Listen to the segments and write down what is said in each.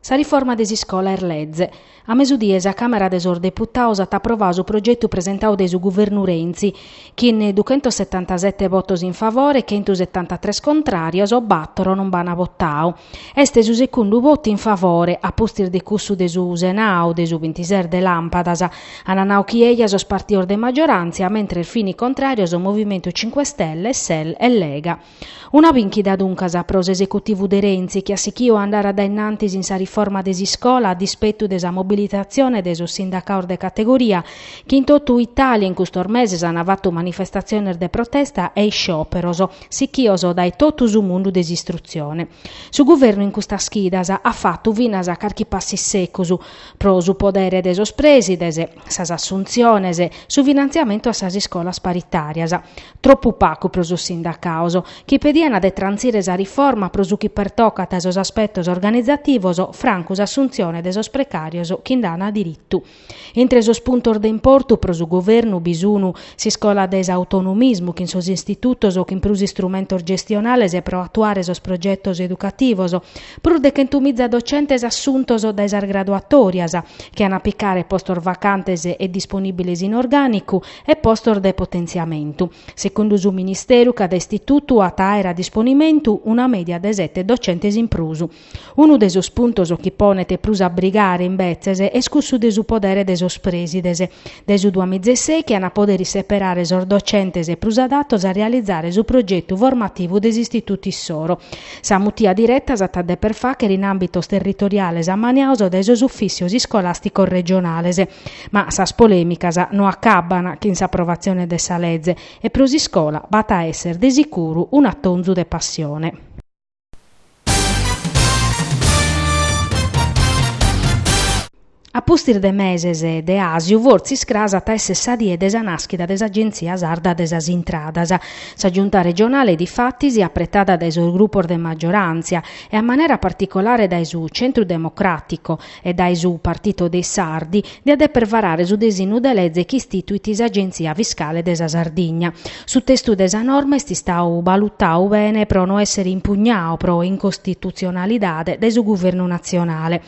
Sa riforma de s'iscola est leze. A mesudie sa Càmera de sos Deputados at aprovadu su progetu presentadu dae su Guvernu Renzi, chin duchentosetantasete votos in favore e chentusetantatres contràrios, battoro non b'an votadu. Est su segundu votu in favore, a pustis de cussu de su Senadu, de su bintises de làmpadas. Ant nadu chi eja sos partidos de maggioràntzia, mentres fin contràrios Movimentu Cinque Stelle, Sel e Lega. Una bìnchida duncas pro s'esecutivu de Renzi chi at sichidu a andare a dae innantis in sa riforma de s'iscola a dispetu de sa mobilitatzione de sos sindacaos de categoria chi in totu Itàlia in custos meses ant fatu manifestatziones de protesta e iscioperos sichidos dae totu su mundu de s'istrutzione. Su guvernu in custas chidas at fatu finas carchi passu issecus pro su podere de sos prèsides, sas assuntziones, su finantziamentu a sas iscolas paritàrias. Tropu pagu pro sos sindacados, chi pedian de trantzire sa riforma pro su chi pertocat sos aspetos organizativos, francu s'assuntzione de sos precàrios chi nd'an diritu. Intre sos puntos de importu pro su Governu bi sun S'iscola de s'autonomismu chin sos istitutos chin prus istrumentos gestionales pro atuare sos progetos educativos, prus de chentumiza docentes assuntos dae sas graduatòrias, chi an a picare postos vacantes e disponìbiles in orgànicu, e postos de potentziamentu. Segundu su Ministeru, cada istitutu at a àere a disponimentu una mèdia de sete docentes in prus. Unu de sos puntos chi ponet prus a brigare, imbetzes, est cussu de su podere de sos prèsides dae su duamizeseichi chi ant a poder seperare sos docentes prus adatos a realizare su progetu formativu de s'istitutu issoro. Sa mutia direta s'at a deper fàghere in àmbitos territoriales ammaniados dae sos ufìssios iscolàsticos regionales. Ma sas polèmicas no acabbant chin s'aprovatzione de sa leze e pro s'iscola b'at a èssere de sicuru un'atonzu de passione. A pustis de meses de àsiu fortzis cras at a èssere sa die de sa nàschida de s'Agenzia sarda de sas intradas. Sa Giunta regionale difatis, apretada dae sos grupos de magioràntzia e a manera particolare dae su Centro Democratico, e dae su Partito dei Sardi, diat deper varare su desinnu de leze chi istituit s'Agenzia Fiscale de sa Sardigna. Su testu de sa norma est istadu balutadu bene pro no èssere impugnadu pro incostitutzionalidade dae su Guvernu natzionale.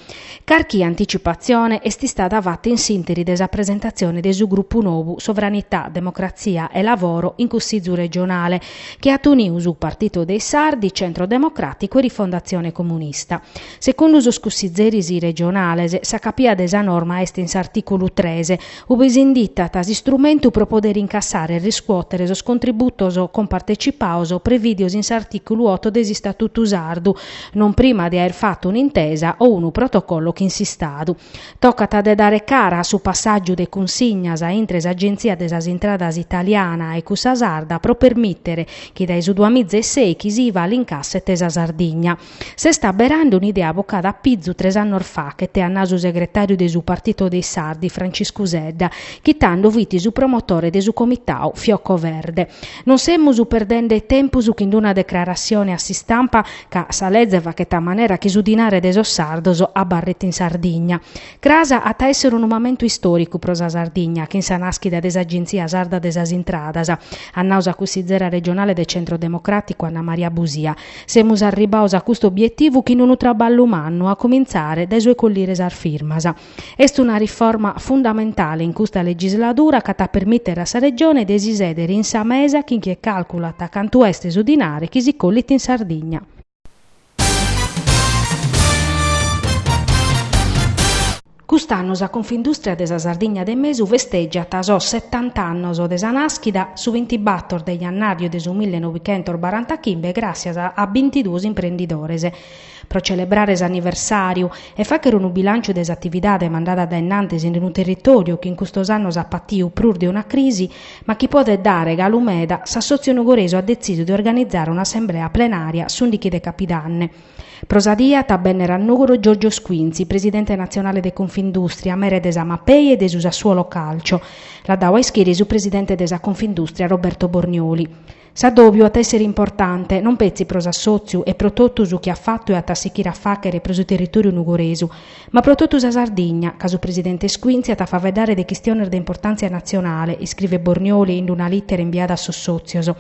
Carchi anticipatzione est istada fata in s'ìnteri de sa presentatzione de su grupu nou Sovranità, Democrazia e Lavoro in Cussizu regionale, chi at unidu su Partito dei Sardi, Centro Democràticu e Rifondatzione Comunista. Segundu sos cussizeris regionales, sa capia de sa norma est in s'artìculu tres, ue s'inditat s'istrumentu pro podere incassare e riscuòtere sos contributos compartecipados prevìdios in s'artìculu oto de s'Istatutu sardu, non prima de aer fatu un'intesa o unu protocollo chin s'Istadu. Tocat de dare cara a su passàgiu de cunsignas intre s'Agenzia de sas Intradas italiana e cussa sarda pro permìtere chi dae su duamiza e sèichi s'IVA l'incasset sa Sardigna S'est abberande un'idea bocada a pizu tres annos faghet, at nau su segretàriu de su Partito dei Sardi, Franciscu Sedda, chi tando fit su promotore de su comitau Fiocco Verde. Non semus perdende tempus chin d'una declaratzione a s'istampa ca sa leze faghet a manera chi su dinare de sos sardos abarret in Sardigna. Cras at a èssere unu mamentu istòricu pro sa Sardigna chin sa nàschida de s'Agenzia Sarda de sas Intradas, at nau sa cussizera regionale de Centro Democràticu Anna Maria Busia. Semus arribbados a custu obietivu chin unu traballu mannu, a comintzare dae su 'e collire sas firmas. Est una riforma fundamentale in custa legisladura ch'at a permìtere a sa Regione de si sèdere in sa mesa chin chie càlculat cantu est su dinare chi si collit in Sardigna. Cust'annu sa Confindustria de sa Sardigna de Mesu festègiat sos setant'annos de sa nàschida, su bintibator de jannàriu de su mille novichentos barantachimbe gràssias a bintiduos imprendidores. Pro celebrare s'anniversàriu e fàghere unu bilànciu de s'atividade mandada dae innantis in unu territòriu chi in custos annos at patiu prus de una crisi ma chi podet dare galu meda, s'Assòtziu Nugoresu at detzisu de organizare un'assemblea plenària s'ùndichi de Capidanne. Pro sa die at a bènnere a Nùgoro Giorgio Squinzi, presidente natzionale de Confindùstria, mere de sa Mapei e de su Sassuolo Calcio. L'at dadu a ischire su presidente de sa Confindùstria Roberto Bornioli. S'adòbiu at a èssere importante, non petzi pro s'assòtziu e pro totu su chi at fatu e at a sichire a fàghere pro su territòriu nugoresu, ma pro totu sa Sardigna, ca su presidente Squinzi at a faeddare de chistiones de importantzia natzionale, iscrivet Bornioli in una lìtera imbiada a sos sòtzios.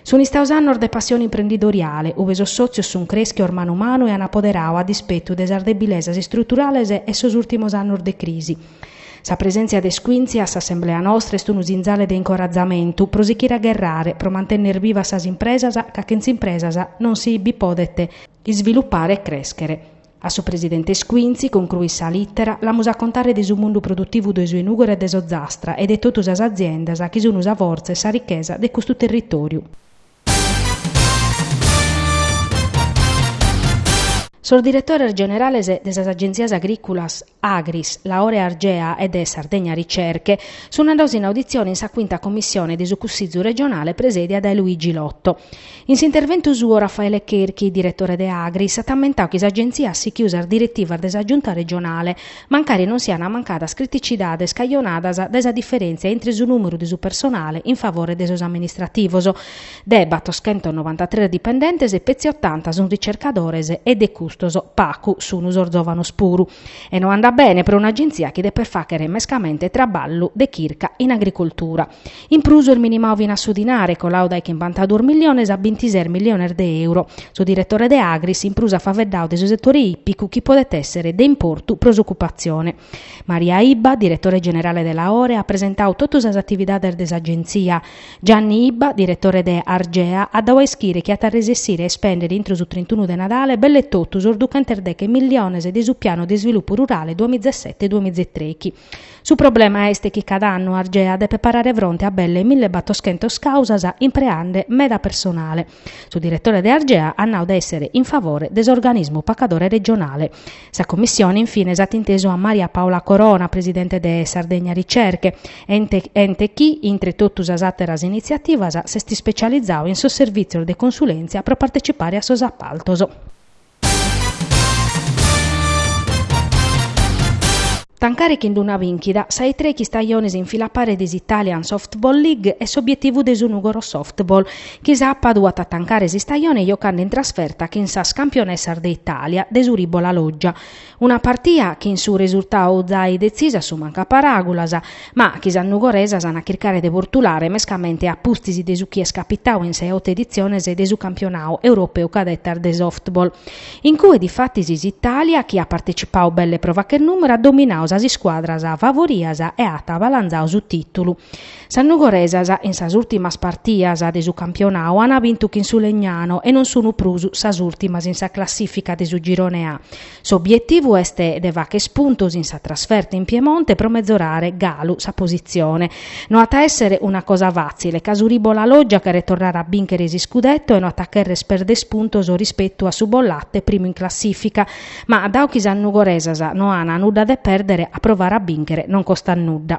Sunt istados annos de passione imprendidoriale, ue sos sòtzios sunt crèschidos manu manu e an apoderadu a dispetu de sas debilesas istruturales e sos ùltimos annos de crisi. Sa presèntzia de Squinzi a s'assemblea nostra est unu sinzale de incoratzamentu pro sichire a gherrare, pro mantenner bivas sas impresas ca chentz'impresas non si bi podet isvilupare e crèschere. A su presidente Squinzi, concluit sa lìtera, l'amus a contare de su mundu produtivu de su 'e Nùgoro e de s'Ozastra e de totu sas aziendas chi sunu sa fortza e sa richesa de custu territòriu. Sos diretores generales de sas agentzias agrìculas, Agris, Laore, Argea e de Sardegna Ricerche sunt andaos in auditzione in sa cuinta commissione de su Cussizu regionale presèdia dae Luigi Lotto. In s'interventu suo Raffaele Cherchi, diretore de Agris, at ammentau chi s'Agentzia at sichiu sas diretivas de sa Giunta regionale, mancari non siant mancadas criticidades cajonadas dae sa diferèntzia intre su nùmeru de su personale in favore de sos amministrativos De batoschentosnovantatres dipendentes petzi otanta sun ricercadores e de custos pacu sun sos zovanos puru. E no andat bene pro un'agentzia chi depet facher mescamente traballu de chirca in agricoltura. In prus est minimau finas su dinare, colau dae chimbantaduos milliones a bintises milliones de euro. Su diretore de Agris in prus at faveddau de su setore ìpicu chi podet esser de importu pro s'ocupatzione. Maria Ibba, diretore generale de Laore, at presentau totu sas atividades de s'agentzia. Gianni Ibba, diretore de Argea, at dau a ischire chi at a resessire a ispèndere intro su trintunu de Nadale belle totu sos duchentos deche milliones de su Piano de Isvilupu Rurale duamizasete-duamizetrechi. Su problema est chi cada annu Argea depet parare fronte a belle millebattoschentos càusas impreende meda personale. Su diretore de Argea at nau de èssere in favore de s'organismu pacadore regionale. Sa commissione in fines at intesu a Maria Paola Corona, presidente de Sardegna Ricerche, ente chi, intre totu sas àteras initziativas, s'est ispecializau in sos servìtzios de consulèntzia pro partecipare a sos apaltos. Tancare chin d'una bìnchida sa 'e trechi istajones in fila a pare de s'Italian Softball League est s'obietivu de su Nùgoro Softball, chi sàpadu at a tancare s'istajone jocande in trasferta chin sas campionessas de Itàlia de su Rhibo La Loggia. Una partia chin su resurtau zai detzisu assumancu a paràgulas, ma chi sas nugoresas an a chircare de bortulare mescamente a pustis de su chi est capitau in sa 'e oto editziones de su campionau europeu cadetas de softball, in cue difatis s'Itàlia, chi at partecipau belle pro facher nùmeru, at dominau sas iscuadras favorias e at balanzau su tìtulu. Sas nugoresas in sas ùrtimas partias de su campionau ant bintu chin su Legnano e non sunt prus sas ùrtimas in sa classìfica de su Girone A. S'obietivu est de facher puntos in sa trasferta in Piemonte pro metzorare galu sa positzione. No at a èssere una cosa fàtzile ca su Rhibo La Loggia cheret torrare a bìnchere s'iscudetto e no at a chèrrere perder puntos rispetu a su Bollate primu in classìfica, ma dau chi sas nugoresas no ant nudda de pèrdere a provare a bìnchere non costat nudda.